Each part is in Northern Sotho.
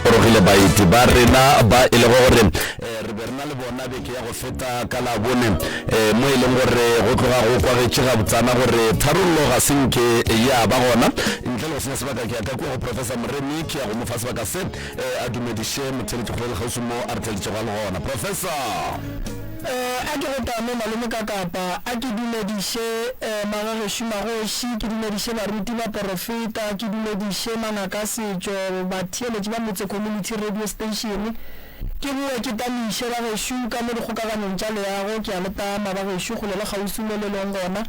gorogile baeti ba rena ba e lego gore eh, re be re na le bona beke ya go feta ka labone eh, mo e leng gore go tloga go kwagetše gabotsana gore tharollo ga se nke ya ba gona ntle le go senya sebaka ke ya ka kua go professor moremi ke ya go mo fa sebaka se eh, a dumediše motheletšikgolo le kgauswi mo a re theletšego le gona professor Eh, a ke go tame malome ka kapa, a ke dumediše eh, magagešo, magoši, ke dumediše baruti, baporofeta, ke dumediše mangaka a setšo, batheeletši ba motse, community radio station. Ke boe ke tamiše bagešo ka mo dikgokaganyong tša leago, ke a le tama bagešo, kgole le kgauswi mo le leng gona.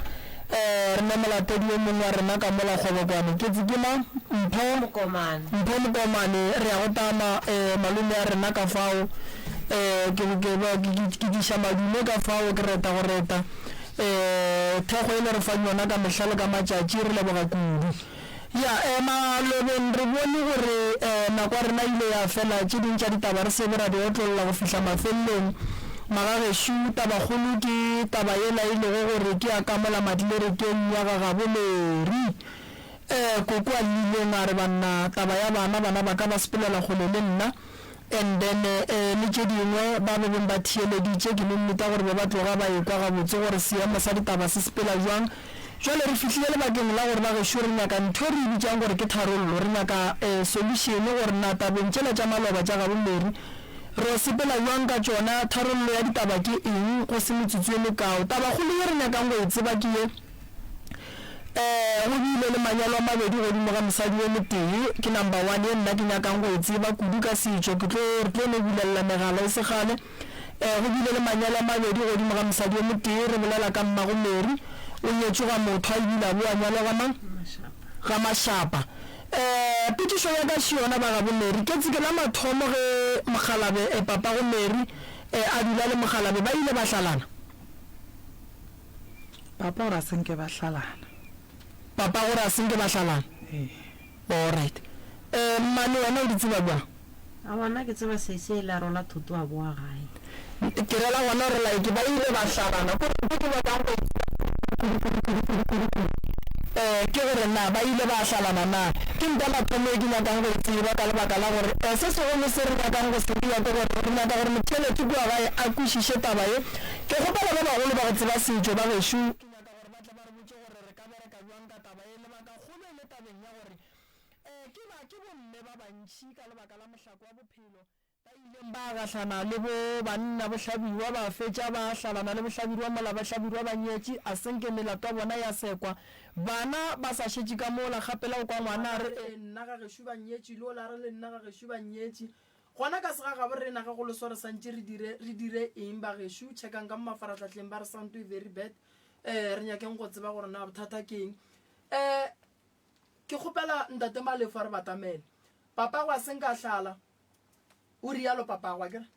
Ee, re ne molatedi yo mongwe wa rena ka mola kgobokwane. Ke tse ke mang? Mpho. Mokomane. Mpho Mokomane. Re ya go tama, ee, malome a rena ka fao. Ee, ke, ke, ke, ke, ke, ke diša madume ka fao, ke reta go reta. Ee, thekgo e le re fang yona ka mehla le ka matšatši, re leboga kudu. Ya ema lobeng, re bone gore nako ya rena e ile ya fela. Tše ding tša ditaba re se be ra di otlolla go fihla mafelelong. Magagešo, tabakgolo ke taba yela e lego gore ke ya kamola madi lerekeng ya ga gabo Larry. Koko a llileng a re, Banna, taba ya bana, bana ba ka ba sepelela kgole le nna. And then eh le tše dingwe ba be beng ba theeleditše kilometer gore be ba tloga ba ekwa gabotse gore seemo sa ditaba se sepela jwang. Jwale re fihlile lebakeng la gore bagešo re nyaka ntho e re e bitšang gore ke tharollo, re nyaka eh solution gore na tabeng tšela tša maloba tša gabo Mary ro sepela jwang ka tšona, tharollo ya ditaba ke eng, go se metsotso e mekao. Tabakgolo ye re nyakang go e tseba ke ye, Ee, go bile le manyalo a mabedi godimo ga mosadi yo motee. Ke number one ye nna ke nyakang go e tseba kudu ka setšo. Ke tlo re tlo no bulelela megala e se kgale. Ee, go bile le manyalo a mabedi godimo ga mosadi yo motee. Re bolela ka mmago Mary, o nyetšwe ga motho a ebile a bo a nyalwa ga mang? Ga Mashapa. Ee, potšišo ya ka še yona ba gabo Mary. Ketse ke la mathomo ge mokgalabe, papago Mary, ee, a dula le mokgalabe. Ba ile ba hlalana? Papa o re a se nke ba hlalana. Papa o re a se nke ba hlalana? Ee. Alright. Eh, mmane wena o di tseba bjang? Aowa, nna ke tseba se se e le a rola Thuto a boa gae. Ke rela gona gore like ba ile ba hlalana. Ko re nke ke nyakang go e tseba kudu kudu kudu kudu kudu kudu. Eh, ke gore na ba ile ba hlalana na? Ke ntwa mathomo e ke nyakang go e tseba ka lebaka la gore eh, se segolo se re nyakang go se dira ke gore re nyaka gore Mothelesi kua gae a kwešiše taba ye Ke kgopela ba bagolo ba go tseba setšo ba gešo. Ke nyaka gore ba tle ba re botše gore re ka bereka bjang ka taba ye. Lebaka kgolo e le tabeng ya gore ke ba ke bomme ba bantši ka lebaka la mohlako wa bophelo, ba ileng ba gahlana le bo banna bohlabirwa ba fetša ba hlalana le bohlabirwa mola bahlabirwa ba nyetše, a se nke melato ya bona ya sekwa bana ba sa šetše ka mola. Kgapela o kwa ngwana a re. Bana re le nna ga gešo ba nyetše, yola a re le nna ga gešo ba nyetše. Gona ka segagabo re ena ge go leswa re santše re dire, re dire eng bagešo? Checkang ka mo mafarahlahleng ba re sound to very bad. Eh, re nyakeng go tseba gore na bothata ke eng. Eh, ke kgopela Ntate Malefo a re batamele. Papago a seng ka hlala. O rialo papago a kere.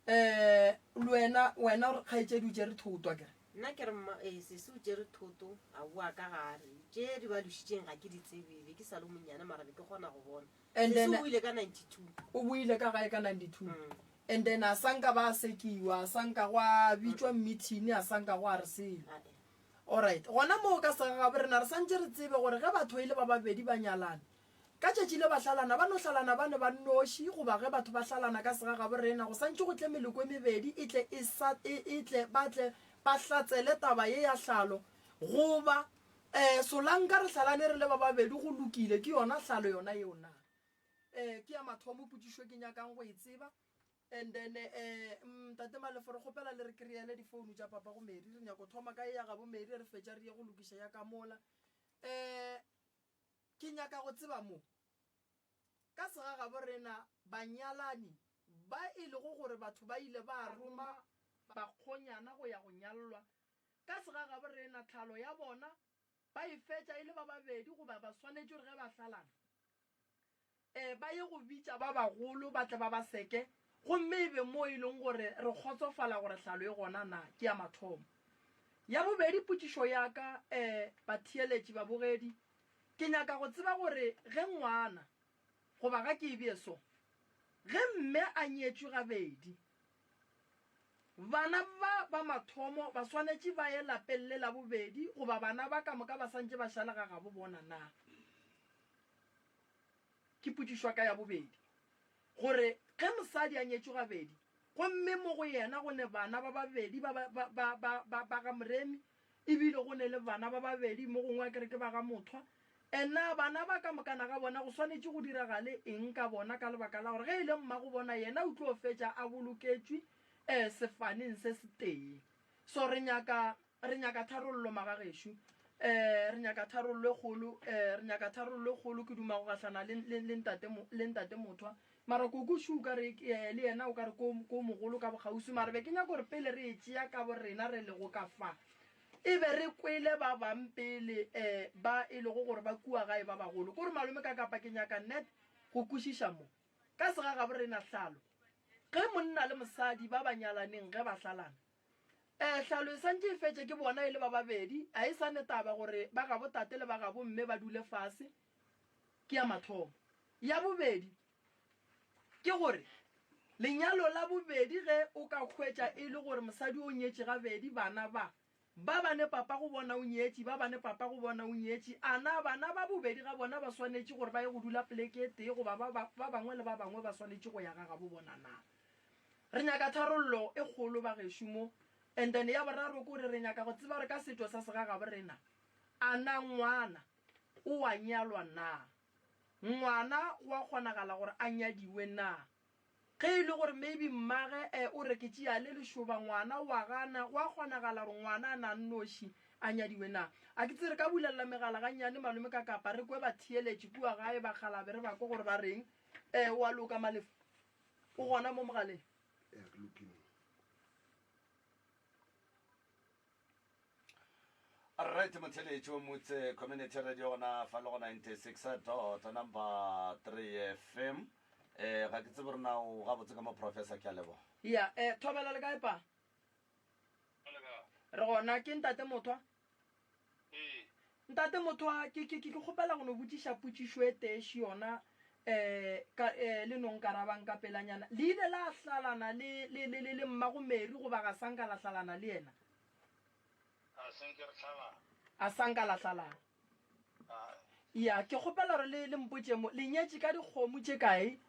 Eh, le wena, wena re kgaetšedi o tšere thoto a kere. Nna ke re mma eh sese o tšere thoto a boa ka gare. Tše di ba lušitšeng ga ke di tsebe, be ke sa le monnyane mara be ke kgona go bona. and then o ile ka 92 o buile ka gae ka 92 mm. and then a sanka ba sekiwa a sanka gwa bitšwa meeting a sanka gwa re sele alright gona moo ka segagabe rena re santse re tsebe gore ge batho ile e ba babedi ba nyalana ka tšatši le ba hlalana ba no hlalana ba ne ba noši goba ge batho ba hlalana ka segagabo rena go santse go tle meloko e mebedi e tle e, e, e tle ba tle ba hlatsele taba ye ya hlalo goba Ee, Solanka, re hlalane re le ba babedi, go lokile. Ke yona hlalo yona yeo na? Ee, ke ya mathomo potšišo ke nyakang go e tseba. And then, ee, mm, Tate Malefo, re kgopela le re kry-ele difounu tša papa go Mary. Re nyako thoma ka e ya gabo Mary, re fetša re ye go lokiša ya ka mola. Ee, ke nyaka go tseba mo. Ka sega gabo rena, banyalani, ba e lego gore batho ba ile ba roma bakgonyana go ya go nyallwa, Ka segagaborena, tlhalo ya bona ba e fetša e le ba babedi goba ba swanetše gore ge ba hlalana, e, ba ye go bitša ba bagolo ba tle ba ba seke, gomme e be moo e leng gore re kgotsofala gore tlhalo e gona na ke ya mathomo. Ya bobedi, potšišo ya ka, e, batheeletši, babogedi, ke nyaka go tseba gore ge ngwana, Goba ga ke e bee so, ge mme a nyetšwe gabedi, bana ba ba mathomo ba swanetše ba ye lapeng le la bobedi goba bana ba ka moka ba santše ba šale ga gabo bona? Na ke potšišwa ka ya bobedi gore ge mosadi a nyetšwe gabedi gomme mo go yena go ne bana ba babedi ba ba ba ba ba ba ga Moremi, E bile go ne le bana ba babedi, mo gongwe a kere ke ba ga Mothwa. And na bana ba ka mokana ga bona go swanetše go diragale eng ka bona ka lebaka la gore ge e le mmago bona yena o tlo fetša a boloketšwe um sefaneng se setee. So re nyaka, re nyaka tharollo magagešo. Um re nyaka tharollo e kgolo, um re nyaka tharollo e kgolo. Ke duma go gahlana le, le, le ntate, le ntate Mothwa. Mara Koko Shu ka re ke yaya le yena o ka re ko, ko mogolo ka bokgauswi. Mara be ke nyaka gore pele re e tšea ka borena re lego ka fa, e be re kwele ba bang pele eh ba e lego gore ba kua gae ba bagolo. Ko re malome ka kapa ke nyaka net go kwešiša mo. Ka sega ga borena Hlalo, ge monna le mosadi ba ba nyalaneng ge ba hlalana, eh Hlalo e santše e fetše ke bona e le ba babedi, a e sa ne taba gore ba gabo tate le ba gabo mme ba dule fase, ke ya mathomo. Ya bobedi ke gore lenyalo la bobedi ge o ka hwetša e le gore mosadi o nyetše gabedi, bana ba ba bane papa go bona o nyetše, ba bane papa go bona o nyetše, a na bana ba bobedi ga bona ba swanetše gore ba ye go dula poleke e tee goba ba ba bangwe le ba bangwe ba swanetše go ya ga gabo bona na? Re nyaka tharollo e kgolo bagešo mo. And then ya boraro ke gore re nyaka go tseba gore ka setho sa segagabo rena a na ngwana O a nyalwa na? Ngwana go a kgonagala gore a nyadiwe na? Ge e le gore maybe mmage e o re ke tšea le lešoba ngwana o a gana, go a kgonagala gore ngwana a nannoši a nyadiwe na? A ke tse re ka bulelela megala gannyane malome ka kapa re kwe batheeletši kua gae ba kgalabe re ba kwe gore ba reng? E o a loka Malef? O gona mo mogaleng? Ea ke lokile. right motheletši o motse community radio gona fa le go 96 dot number 3 fm um eh, ga ke tsebe gore na o gabotse ka mo professor ke a leboga ya um eh, thobela le kae pa re gona ke ntate mothwa ee Ntate Mothwa, ke, ke, ke tlo kgopela go no botšiša potšišo e tee še yona, um, ka, um, le no nkarabang ka pelanyana. Le ile la hlalana le, le, le, le, le mmago Mary goba ga sa nka la hlalana le yena? Ga se nke re hlalana. A sa nka la hlalana. Ae. Ya, ke kgopela gore le, le mpotše mo, le nyetše ka dikgomo tše kae?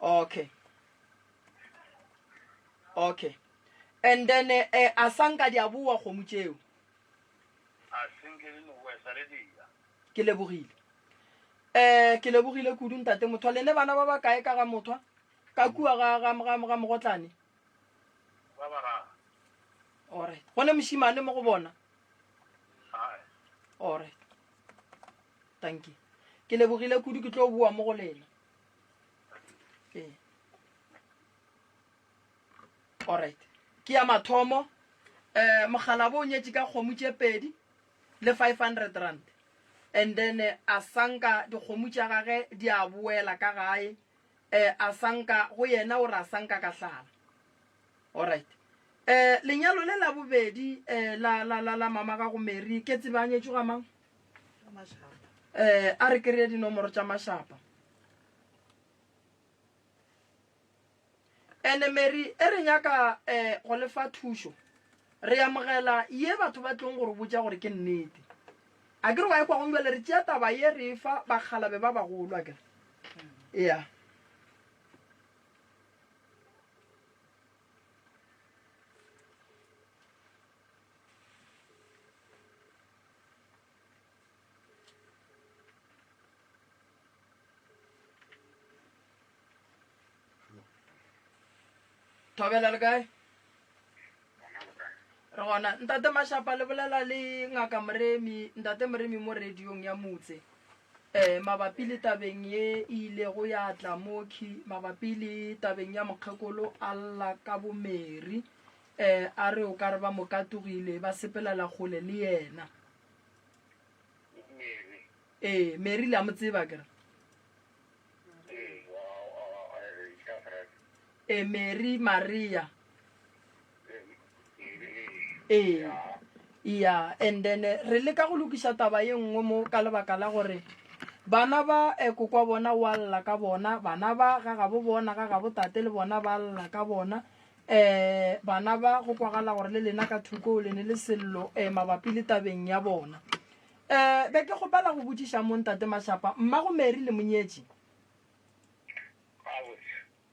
okay okay and then eh, eh a sanka di a boa kgomo tšeo ke lebogile um ke lebogile kudu ntate mothwa le ne bana ba ba kae ka ga mothwa ka kua ga mogotlane orit go ne mošimane mo go bona orit Dankie. Ke lebogile kudu ke tlo boa mo go lena. Ee. All right. Ke ya mathomo eh mogalabo o nyetše ka kgomo tše pedi le 500 rand and then eh, a sanka dikgomo tša gage di a boela ka gae eh a sanka go yena o re a sanka ka hlala alright eh lenyalo le la bobedi eh la la la la mama ga go Mary ke tsebanyetšo ga mang eh a re kry-e dinomoro tša mašapa ene mary e re nyaka um go lefa thušo re amogela ye batho ba tlong gore botša gore ke nnete a ke re wa ekwa gong jale re tšea taba ye re fa bakgalabe ba bagolo a kere ya thobela le kae re gona ntate mashapa le bolela le ngaka moremi ntate moremi mo radiong ya motse um mabapi le tabeng ye e ilego ya tla moki mabapi le tabeng ya mokgekolo alla ka bomeri Ee, a re o ka re ba mo katogile, ba sepelela kgole le yena. Mary. Ee, Mary le a mo tseba ke re. Ee, ka Gerata. Ee, Mary, Maria. Ee, ya, and then eh, re leka go lokiša taba ye nngwe mo ka lebaka la gore bana ba eh, kokwa bona wa lla ka bona, bana ba ga gabo bona, ga gabo tate le bona ba lla ka bona, um bana ba go kwagala gore le lena ka thoko le ne le sello um mabapi le tabeng ya bona um be ke kgopela go botšiša mo ntate mašapa mmago mary le monyetši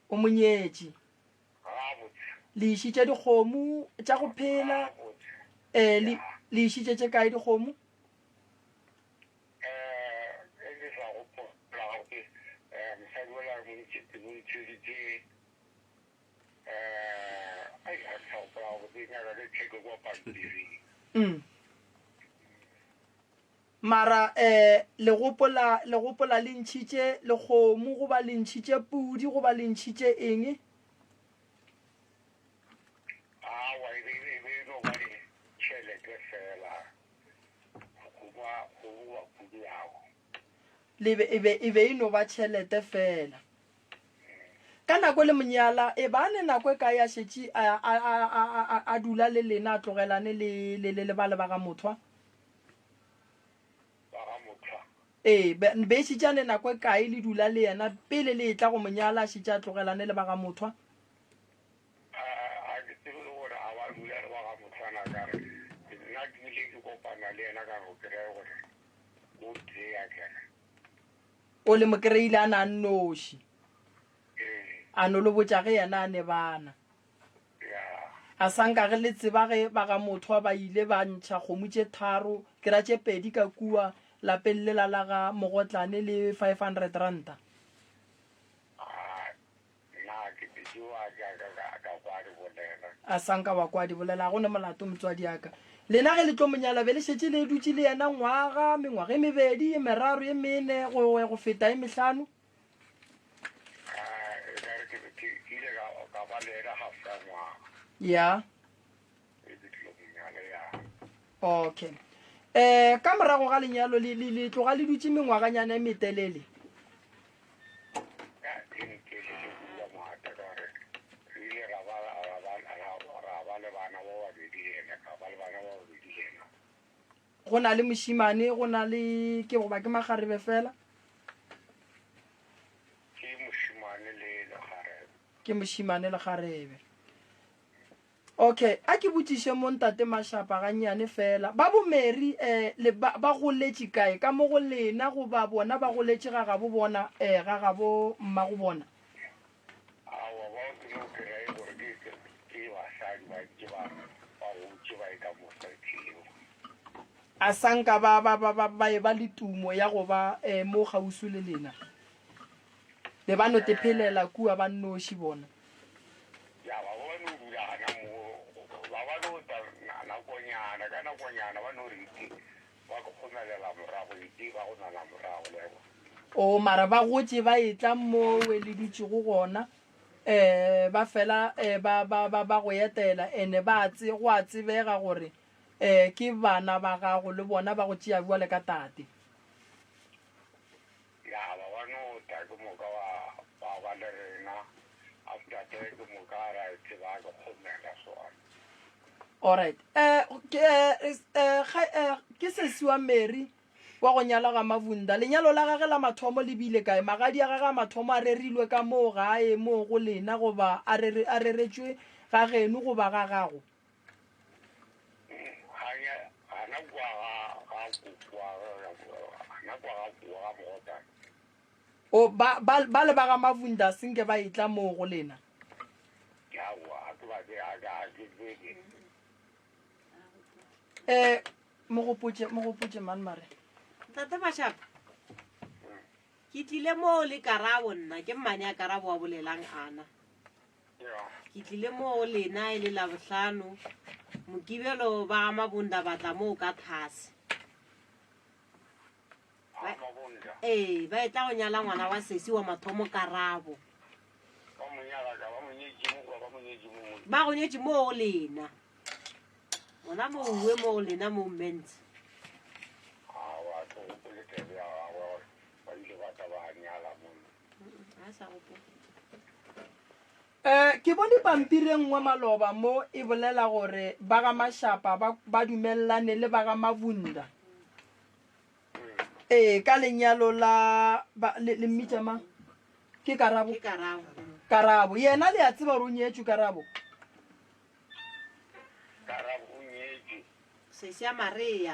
o monyetši le išitše dikgomo tša go phela um le išitše tše kae dikgomo Mm. mara eh le gopola le gopola le ntšhitše lekgomo goba le ntšhitše pudi goba le ntšhitše eng awa e be e be no ba le tšhelete fela goba goba pudi yago le be e be e be e no ba tšhelete fela Ka nako le monyala, e ba ne nako e kae a šetše a, a, a, a, a, a dula le lena, a tlogelane le, le, le, le bale ba ga Mothwa? ba ga mothwa Ee, be, be šetše a ne nako e kae le dula le yena pele le etla go monyala, a šetše a tlogelane le ba ga Mothwa? a a ke tsebe le gore a ba dula le ba ga mothwana ka re nna ke ile ke kopana le yena ka go kry-e gore o tee a kere o le mokereile a na a nnoši a no lo botša ge yena a ne bana a sa nka ge le tseba ge ba ga motho wa ba ile ba ntšha kgomo tše tharo ke ra tše pedi ka kua lapeng lela la ga mogotlane le 500 ranta Nna ke bidiwa jaaka ka, ka kwa di bolela. A sa nka wa kwa di bolela, ga go ne molato motswadiaka. Lena ge le tlo mo nyala be le šetše le dutše le yena ngwaga, mengwaga e mebedi, e meraro, e mene, go, go feta e mehlano. A e ka re ke, ke, ke ile ka, ka ba le yena half ka ngwaga. Ya. okay um ka morago ga lenyalo le le- le tloga le dutse mengwaganyana e metelele go na le mošimane go na le ke goba ke magarebe fela ke mošimane le garebe Ok, a ke botšiše mo Ntate Mashapa gannyane fela. Ba bo Mary eh, le ba, ba goletše kae? Ka mo go lena goba bona ba goletše ga gabo bona, eh, ga gabo mmago bona? Aowa, ba o tsebe o kere e gore ke, ke, ke basadi ba ntše ba, ba gotše ba e ka mo stretlheng. A sa nka ba, ba, ba, ba, ba e ba le tumo ya go ba eh, mo kgauswi le lena? Be ba no tephelela kua ba nnoši bona. Ya ba ba no dula gana moo, ba ba no tla nakonyana, ka nakonyana ba no re iti ba kgomelela morago, iti ba go nana morago, le a kwa. Oo, mara ba gotše ba etla moo we le dutšego gona, um ba fela um ba, ba, ba, ba go etela, ene ba a tse, go a tsebega gore um ke bana ba gago, le bona ba go tšea bjalo ka tate. Ya ba wa no ta ke moka wa ba ba le rena after te ke moka ra e tseba ke kgomela swana. Alright eh ke eh, eh, eh ke sesi wa Mary wa go nyala ga Mavunda lenyalo la gage la mathomo le bile kae magadi a gage a mathomo a rerilwe ka moo gae moo go lena goba a rere a reretswe ga geno goba ga gago O, ba, ba, bale ba ga Mavunda se nke ba etla moo go lena. Eh, mo gopotše, mo gopotše man mare. Ntate Mashaba, ke tlile moo le Karabo nna, ke mmane ya Karabo wa bolelang ana. Ke tlile mo go lena e le Labohlano, Mokibelo ba ga Mabonda ba tla moo ka thase. Ba- Mabonda, Ee, ba e tla go nyala ngwana wa sesi wa mathomo Karabo. ba mo nyala ka, ba mo nyetše mo kwa, ba mo nyetše mo mo. Ba go nyetše mo go lena. Ngwana mo uwe mo go lena mo Men's. A wa tlo o le tebe ya gagwe gore ba ile ba tla ba nyala mo. Eh, ke bone pampiri e nngwe maloba mo e bolela gore ba ga Mashapa ba, ba dumelelane le ba ga Mabunda. Ee, ka lenyalo la ba, le, le mmitša mang? Ke Karabo. Ke Karabo. Karabo. Yena le a tseba gore o nyetšwe Karabo. Karabo o nyetšwe. Sesya Maria.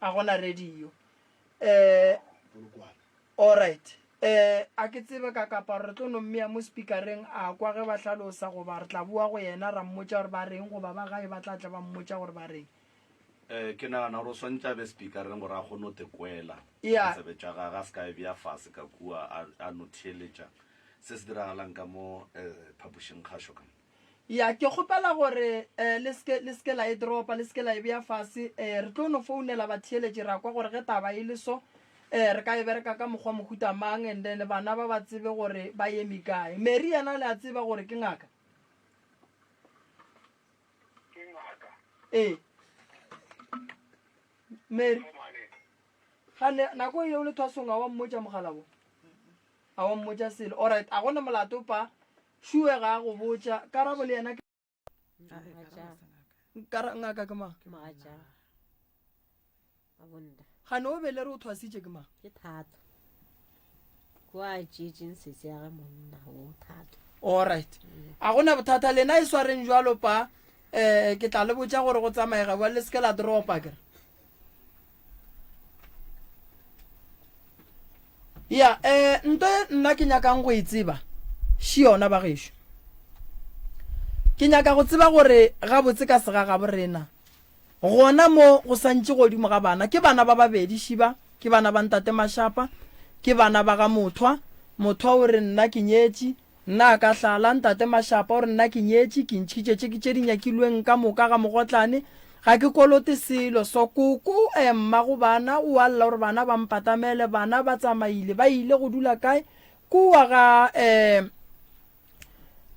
a gona radio um allright um a ke tsebe ka kaparo re tlo no mmea mo speakereng a kwa ge ba hlalosa goba re tla boa go yena ra mmotsa gore ba reng goba ba gae ba tla tla ba mmotsa gore ba reng um ke nagana gore o swantse a be speakereng gore a kgone o tekwela tsebe tša gage a se ka e bea fase ka kua a no theeletša se se diragalang ka mo um phapošing kgašo ka Ya, ke kgopela gore eh, le seke le seke la e dropa, le seke la e bea fase. Eh, re tlo no founela batheeletši ra kwa gore ge taba e le so, eh, re ka e bereka ka mokgwa mohuta mang, and then bana ba ba tsebe gore ba yemi kae. Mary yena le a tseba gore ke ngaka. Ke ngaka. Ee. Mary, Mo mane. ga ne nako yeo le thwasong a wa mmotša mogala bo? A wa mmotša selo? Alright, a gone molato pa Sure ga a go botša, Karabo le yena ke. Kara, ngaka ke mang? Gane o belere o thwasitše ke mang? Ke thato. Kwa tšetšeng setse ya ga monna o thato. All right. A gona bothata lena e swareng jwalo pa eh ke tla le botša gore go tsamaega bwa le seke la dropa kere. ya eh nto e nna ke nyakang go e tseba shi yona ba gešo ke nyaka go tseba gore gabotse ka sega ga borena gona mo go santše godimo ga bana ke bana ba babedi šiba ke bana ba ntate mashapa ke bana ba ga mothwa mothwa o re nna ke nyetše Nna ka hlaa la ntate Mashapa gore nna ke nyetše, ke ntšhitše tše ke tše di nyakilweng ka moka ga mogotlane, ga ke kolote selo, so koko eh, mma go bana o a lla gore bana ba mpatamele, bana ba tsamaile, ba ile go dula kae? Kua ga eh,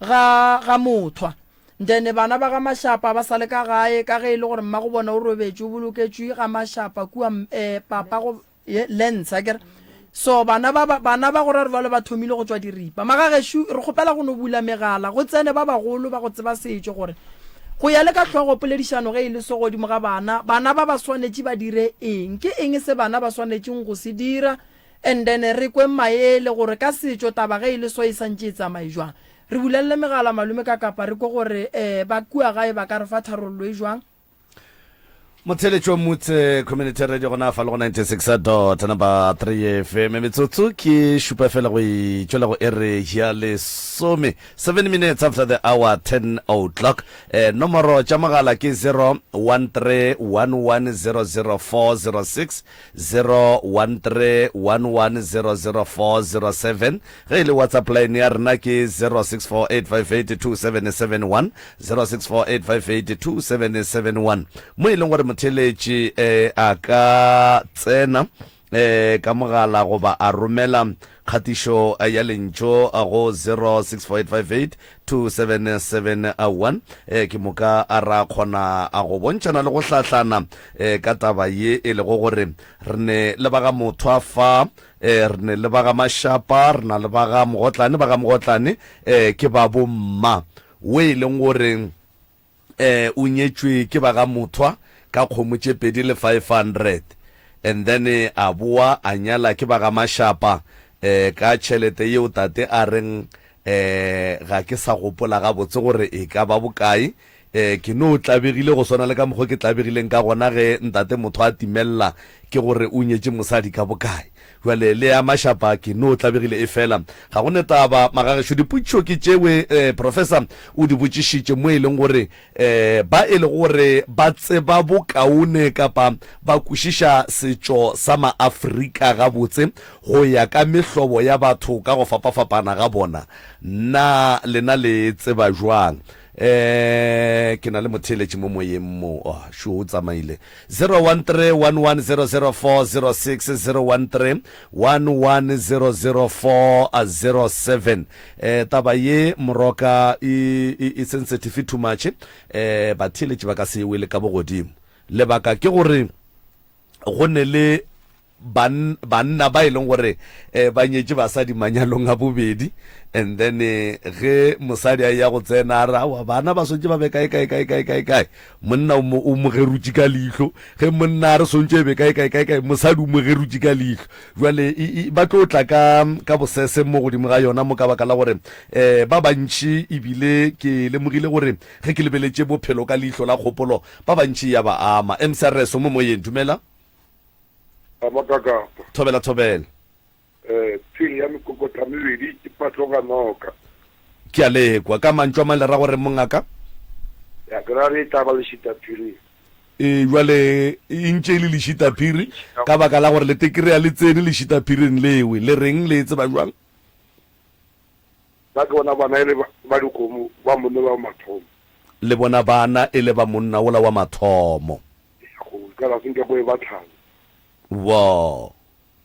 ga, ga Mothwa. Ndene bana ba ga Mashapa ba sa le ka gae, ka ge e le gore mma go bona o robetše o boloketšwe ga Mashapa kua eh, papa go. ye lens a kere so bana ba bana ba go ra re balo ba thomile go tswa diripa magageshu re kgopela go no bula megala go tsene ba bagolo ba go tseba setšo gore go ya le ka tlhogo poledišano ge e le so godimo ga bana bana ba ba swanetše ba dire eng ke eng se bana ba swanetšeng go se dira and then re kweng maele gore ka setšo taba ge e le so e santše e tsamaye jwang re bulelele megala malome ka kapa re kwe gore um ba kua gae ba ka re fa tharollo e jwang motheletšo motse community radio gona fa le go 96 dot number 3 fm metsotso ke šupa fela go itšwela go ere ya lesome 7 minutes after the hour 10 o'clock eh, nomoro tša mogala ke 0131100406 01311004007 ge e le WhatsApp line ya rena ke 0648582771 0648582771 mo e leng gore motheeletši eh, a ka tsena eh, ka mogala goba a romela Kgatišo ya lentšu go 0648527711 ke moka a ra kgona a go bontšhana le go hlahlana ka taba ye e lego gore re ne le ba ga Mothwa fa, re ne le ba ga Mashapa, re na le ba ga Mogotlane, ba ga Mogotlane ke ba bo mma, wo e leng gore um o nyetšwe ke ba ga Mothwa ka kgomo tše pedi le 500 and then a boa a nyala ke ba ga Mashapa um ka tšhelete yeo tate a reng um ga ke sa gopola gabotse gore e ka ba bokae um ke no tlabegile go swana le ka mokgwa ke tlabegileng ka gona ge ntate Mothwa a timelela ke gore o nyetše mosadi ka bokae Bjale le ya mašapa ke no tlabegile e fela. Ga go netaba magagešo dipotšišo ke tšewe eh, Professor o di botšišitše mo e leng gore eh, ba e le gore ba tseba bokaone kapa ba kwešiša setšo sa Maafrika gabotse go ya ka mehlobo ya batho ka go fapafapana ga bona. Na lena le tseba bjang? Eh, ke na le motheeletši mo moyeng mo. Oh, sure, o tsamaile. 013 1100406 013 1100407. Eh, taba ye moroka e, e, e sensitive too much. Eh, batheeletši ba ka se e wele ka bogodimo. Lebaka ke gore go ne le Ban, banna ba e leng gore eh, ba nyetše basadi manyalong a bobedi and then eh, ge mosadi a ya go tsena a re awa bana ba swantše ba be kae kae kae kae kae kae monna o mo, o mo gerutše ka leihlo ge monna a re swantše e be kae kae kae kae mosadi o mo gerutše ka leihlo jwale i- i- ba tlo tla ka ka bosese mo godimo ga yona mo ka baka la gore eh, ba bantši ebile ke lemogile gore ge ke lebeletše bophelo ka leihlo la kgopolo ba bantši ya ba ama msrs o mo moyeng dumela Baba ka kapa. Thobela thobela. Eh, tsheng ya mekokotla mebedi ke patloga noka. Ke a lekwa. Ka mantšu a mang le ra gore mongaka? Ya ke ra re e tla ba lešitaphiri. E, jwale e ntše e le lešitaphiri ka baka la gore le tekere ya le tsene lešitaphiring lewe. Le reng le e tseba jwang? Ba ke bona bana e le ba dikgomo, ba monna ola wa mathomo. Le bona bana e le ba monna ola wa mathomo. Eya go ikala se nke go e ba tlhano. Wo.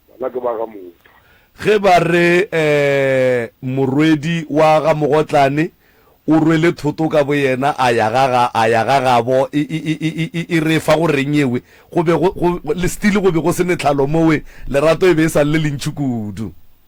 Bana ke ba ga Mogotlane. Ge ba re um morwedi wa ga Mogotlane o rwele thoto ka boyena a ya ga ga a ya ga gabo e, e, e, e, e, e re fa go reng yewe? Go be go, go, le still go be go se metlhalo mowe, lerato e be e sa lle lentši kudu.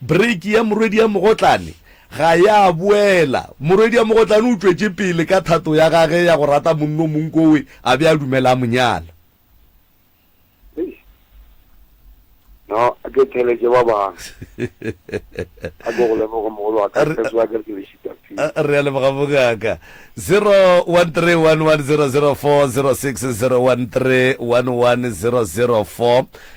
Break ya Morwediamogotlane ga ya boela. Morwediamogotlane o tšwetše pele ka thato ya gage ya go rata monna o mongwe kowe a be a dumela a mo nyala. Eish. No, a ke theletše ba bangwe. A ke go leboge mogolo wa ka, Re- Setswa ke re ke le šita pele. A- a Re a leboga bongaka. 0131100406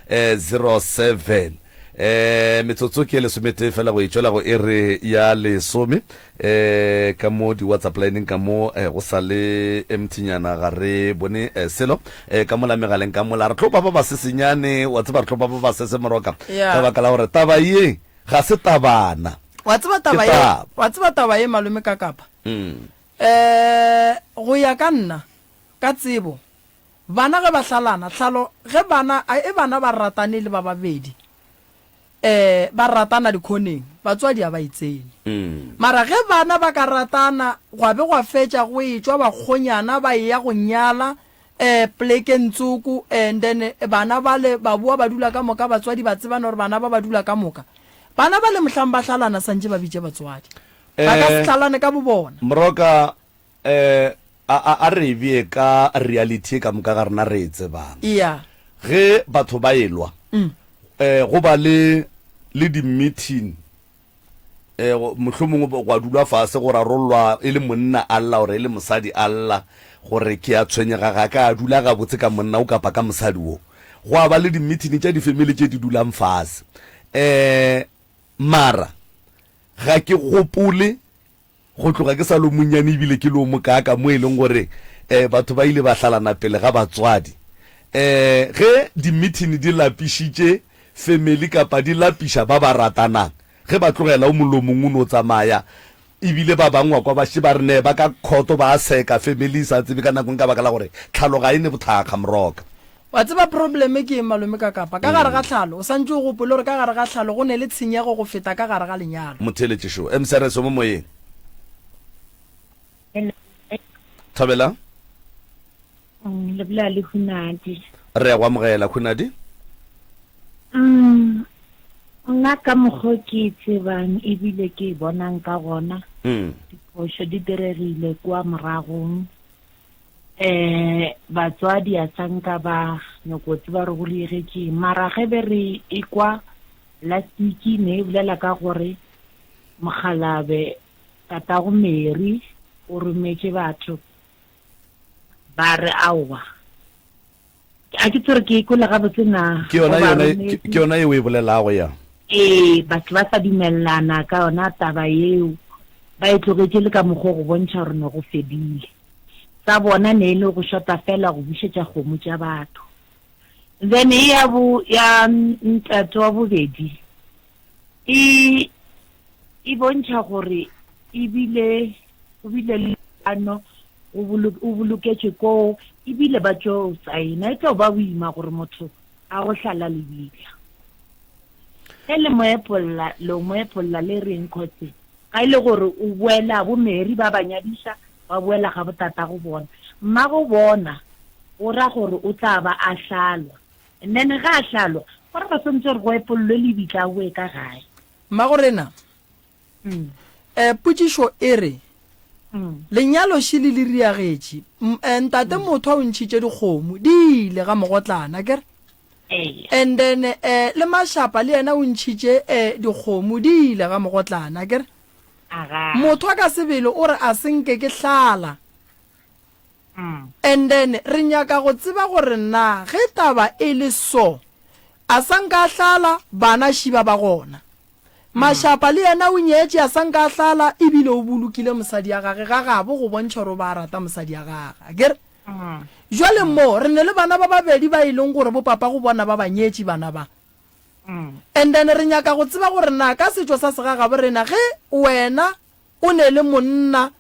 0131100407. E, metsotso ke e lesometee fela go e tšwela go iri ya lesome. E, ka mo di-whatsapp lineng ka mo e, go sa le emthinyana ga re bone e, selo e, ka mola megaleng ka mola re tlo ba ba ba sesenyane wa tseba re tlo ba ba ba sese moroka Yeah. ka baka la gore taba ye ga se tabana wa tseba taba Ke ye taba. wa tseba taba ye malome ka kapa Mm. um go ya ka nna ka tsebo Bana ge ba hlalana, hlalo ge bana, a e bana ba ratane e le ba babedi, eh, ba ratana dikhoneng, batswadi a ba e tsene. Mara ge bana ba ka ratana, gwa be gwa fetša go etšwa bakgonyana ba eya go nyala, eh, plekeng tsoko, and then bana bale ba boa ba dula ka moka, batswadi ba tsebana gore bana ba ba dula ka moka. Bana bale mohlang ba hlalana santše ba bitše batswadi. Ba ka se hlalane ka bobona. Moroka, Ee, a, a re e bee ka reality e ka moka ga rena re e tsebang. Ea. Ge batho ba e-lwa, um go ba le, le di-meeting, um mohlomongwe gwa dulwa fase go rarollwa, e le monna a lla or e le mosadi a lla gore ke a tshwenyega, ga ka dula gabotse ka monna wo kapa ka mosadi wo. Gwa ba le di-meeting tša di-family tše di dulang fase. Um mara ga ke gopole Go tloga ke sa lo monnyane ebile ke lo mokaaka mo e leng gore um batho ba ile ba hlalana pele ga batswadi. Um ge dimithini di lapišitše femeli kapa di lapiša ba ba ratanang, ge ba tlogela o mong le o mong o no tsamaya ebile ba bangwe wa kwa ba šetše ba re ne ba ka khoto ba seka femeli e sa tsebe ka nako eng ka baka la gore tlhalo ga e ne bothakga moroka. Wa tseba probleme ke eng malome ka kapa? Ka gare ga tlhalo, o santše o gopole gore ka gare ga tlhalo go ne le tshenyego go feta ka gare ga lenyalo. Motheeletše šo, MCRS o mo moyeng. Hello, Mme. Thabelang. Umm, le bolela le Hunadi. Re ya go amogela, Hunadi. Umm, nna ka mokgo ke e tsebang ebile ke e bonang ka gona, diphošo di diregile kua moragong. Eh batswadi a sa nka ba nyoko tseba gore go diregetseng mara ge be re e kwa last week ne e bolela ka gore mokgalabe tatago Mary o rometše batho ba re aowa A ke tsere ke ikole gabotse na ke yona yona ke yona yeo e bolelago ya ee batho ba sa dumelelana ka yona taba yeo ba e tlogetše le ka mokgwa go bontšha gore ne go fedile sa bona ne e le go shota fela go bušetša kgomo tša batho then e ya bo ya ntate wa bobedi e e bontšha gore e bile go bile le ano o boloketšwe koo ebile ba tšo saena e tlo ba boima gore motho a go hlala lebitla ge le moepolla lo moepolla le reng khotse ga e le gore o boela bo mary ba ba nyadiša ba boela ga botata go bona mma go bona o ra gore o tla ba a hlalwa and then ga a hlalwa gore ba swantse gore go epollwe lebitla a boe ka gae Mmagorena, um potšišo e re, Lenyalo še le le riagetše. Um ntate Mothwa o ntšhitše dikgomo, di ile ga mogotlana, ke re? And then um le Mashapa le yena o ntšhitše um dikgomo, di ile ga mogotlana, ke re? Mothwa ka sebele o re a se nke ke hlala. And then re nyaka go tseba gore na ge taba e le so, a sa nka a hlala, bana šiba ba gona. Mashapa le yena o nyetše, a sa nka a hlala, e bile o bolokile mosadi ya gage ga gabo go bontšha gore o ba rata mosadi ya gage. A kere? Jwale mo, re ne le bana ba babedi ba e leng gore bo papago bona ba ba nyetše bana ba. And then re nyaka go tseba gore na ka setšo sa segagabo rena ge wena o ne le monna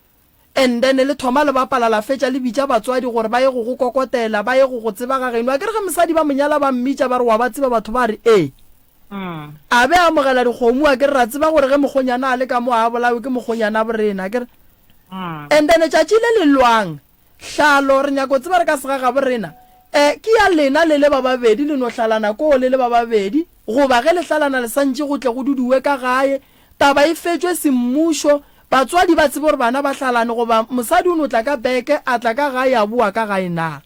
and then le thoma le bapala la fetša le bitša batswadi gore ba ye go go kokotela ba ye go go tseba ga geno akere ge mosadi ba monyala ba mmitša ba re wa ba tseba batho ba re ee a be a amogela dikgomo akere ra tseba gore ge mokgonyana a le ka mo a bolawe ke mokgonyana borena akere and then tšatši le le lwang hlalo re nyako tseba re ka sega ga borena um ke ya lena le le ba babedi le no hlalana koo le le ba babedi goba ge le hlalana le santše go tle go duduwe ka gae Taba e fetšwe semmušo, batswadi ba tsebe gore bana ba hlalane goba mosadi o no tla ka beke, a tla ka gae a boa ka gae na?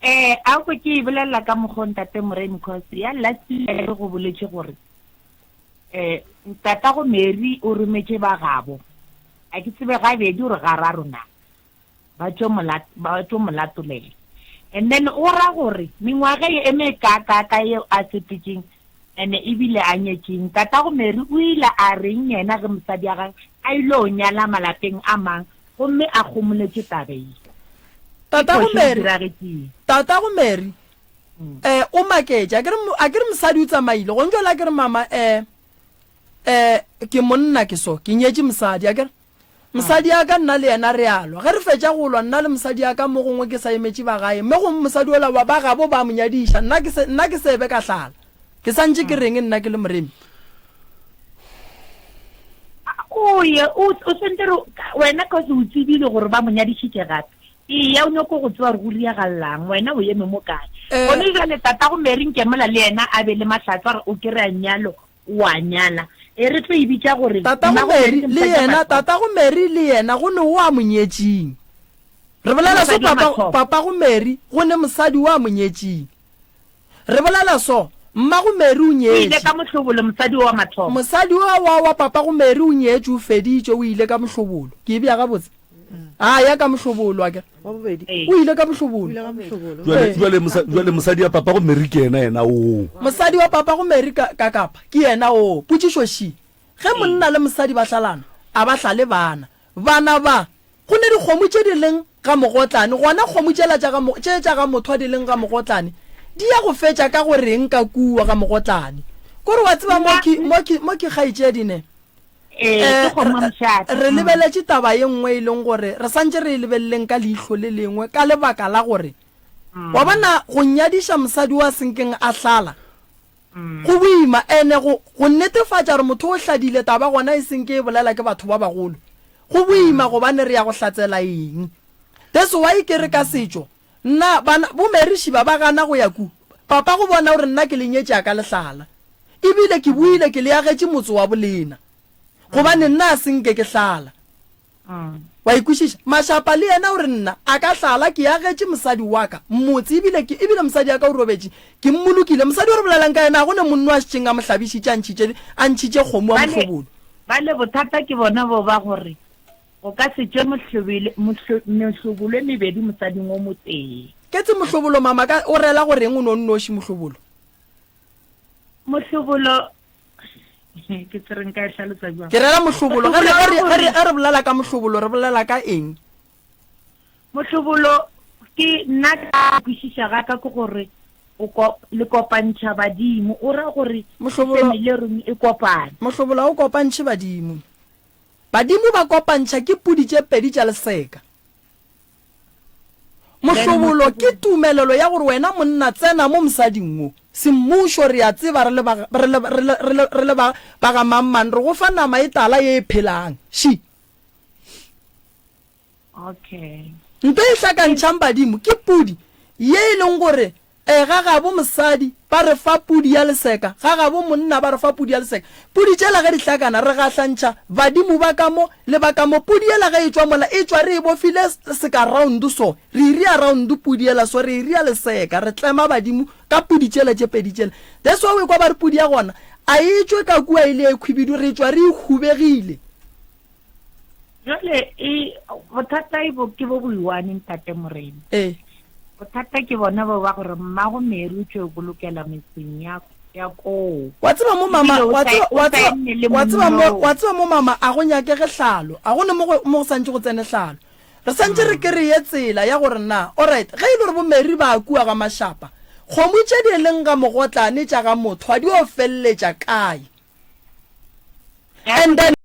Ee, a kwe ke e bolelela ka mokgwa o Ntate Moremi cos ya last year re go boletše gore um tatago Mary o rometše ba gabo, a ke tsebe gabedi or gararo na. ba tšo mo ba tšo mo latolela and then o ra gore mengwaga ye e mekaakaaka yeo a sepetšeng ene ebile a nyetšeng tatago Mary o ile a reng yena ge mosadi ya gage a ilo nyala malapeng a mang gomme a kgomoletše taba ye ke Tatago phošo e Mary diragetšeng Tatago Mary eh o maketše a ke re mo- a ke re mosadi o tsamaile gong jale a ke re mama eh eh ke monna ke so ke nyetše mosadi a ke re Mosadi ya ka, nna le yena re a lwa. Ge re fetša go lwa, nna le mosadi ya ka, mo gongwe ke sa emetše ba gae, mme gomme mosadi ola wa ba gabo ba mo nyadiša, nna ke se, nna ke se be ka hlala. Ke sa ntše ke reng, nna ke le moremi? O ye, o, o swantše re, wena, ka gore o tsebile gore ba mo nyadišitše gape. Eya, o nyoko go tseba gore go riagalelang. Wena o eme mo kae? Gona bjale, tatago Mary, nke mola le yena a be le mahlatswa, o kry-a nnyalwa. o a nyala. E re tlo e bitša gore Tatago Mary le yena, Tatago Mary le yena go ne o a mo nyetšing? Re bolela so papa, Papago Mary go ne mosadi o a mo nyetšing? Re bolela so, Mmago Mary o nyetše. O ile ka mohlobolo, mosadi o wa mathomo. Mosadi o wa wa Papago Mary o nyetše, o feditše, o ile ka mohlobolo. Ke e bja gabotse? a ya ka mohlobolo ake o ile ka mohlobolojuale mosadi ya papa go meri ke ena ena o mosadi wa papa go meri ka kapa ke ena o potšišoši ge monna le mosadi ba hlalana a ba hlale bana bana ba go ne dikgomo tše di leng ga mogotlane gona kgomo tšela tše tša ga motho a di leng ga mogotlane di ya go fetša ka go reng ka kua ga mogotlane kore wa tseba mo ke kgaitšedine Ee, ke kgomo mošate. Re lebeletše taba ye nngwe e leng gore re santše re e lebeleleng ka leihlo le lengwe ka lebaka la gore, wa bona, go nyadiša mosadi wa senkeng a hlala go boima. Ene go, go netefatša gore motho o hladile taba gona e seng ke e bolela ke batho ba bagolo, go boima gobane re ya go hlatsela eng. That's why ke re ka setšo Nna, bana, bo Mary šiba ba gana go ya ku, papa go bona gore nna ke le nyetša ka lehlala. E bile ke boile ke le agetše motse wa bolena. Gobane nna a se nke ke hlala. Wa ikwešiša? Mashapa le yena o re nna a ka hlala, ke agetše mosadi wa ka motse, e bile ke, e bile mosadi ya ka o robetše, ke mmolokile. Mosadi o re bolelang ka yena, ga go ne monno a šetšeng a mo hlabišitše, a ntšhitše, a ntšhitše kgomo a mo hlobolo. Bale, bale bothata ke bona boo ba gore. O ka se tšwe mohlobile, mohlo, mohlobolo e mebedi mosading o motee. Ketse mohlobolo, mama, ka, o rela go reng o no nnoši, mohlobolo? Mohlobolo, ke se re nka e hlalosa bjang? Ke rela mohlobolo, ge re, ge re, ge re, ge re bolela ka mohlobolo, re bolela ka eng? Mohlobolo, ke, nna ka go kwešiša ga ka ke gore o ko, le kopantšha badimo, o ra gore family ya run e kopane. Mohlobolo ga o kopantšhe badimo. Badimo ba kopantšha ke pudi tše pedi tša leseka. Mohlobolo ke tumelelo ya gore wena monna tsena mo mosading wo. Semmušo, re a tseba re le ba, re le, re le, re le, re le ba, ba ga mangmang, re go fa nama e tala ye e phelang. She. Okay. Nto e hlakantšhang badimo ke pudi ye e leng gore e ga gabo mosadi ba re fa pudi ya leseka, ga gabo monna ba re fa pudi ya leseka. Pudi tšela ge di hlakana re gahlantšha badimo ba ka mo le ba ka mo. Pudi yela ge e tšwa mola e tšwa re e bofile seka round so, re e ria round pudi yela so, re e ria leseka, re tlema badimo ka pudi tšela tše pedi tšela. That's why o ekwa ba re pudi ya gona a e tšwe ka kua e le ya ekhwibidu, re tšwa re e hubegile jale e bothata e bo ke bo boiwane ntate morena ee bothata ke bona bo ba gore mmago meeri o tšwe bolokela metseng ya ya koo wa tseba mo mama Ebile o wa sa- tseba- o wa sa tseba- eme le wa tseba mo- monna o. wa tseba mo mama a go nyakege hlalo a gone mo go mo go santse go tsene hlalo re santse re kereye tsela ya gore na orit ge e le gore bomeri ba kua ga mashapa kgomo tše di e leng ga mogotlane tša ga motho a di o feleletša kae and then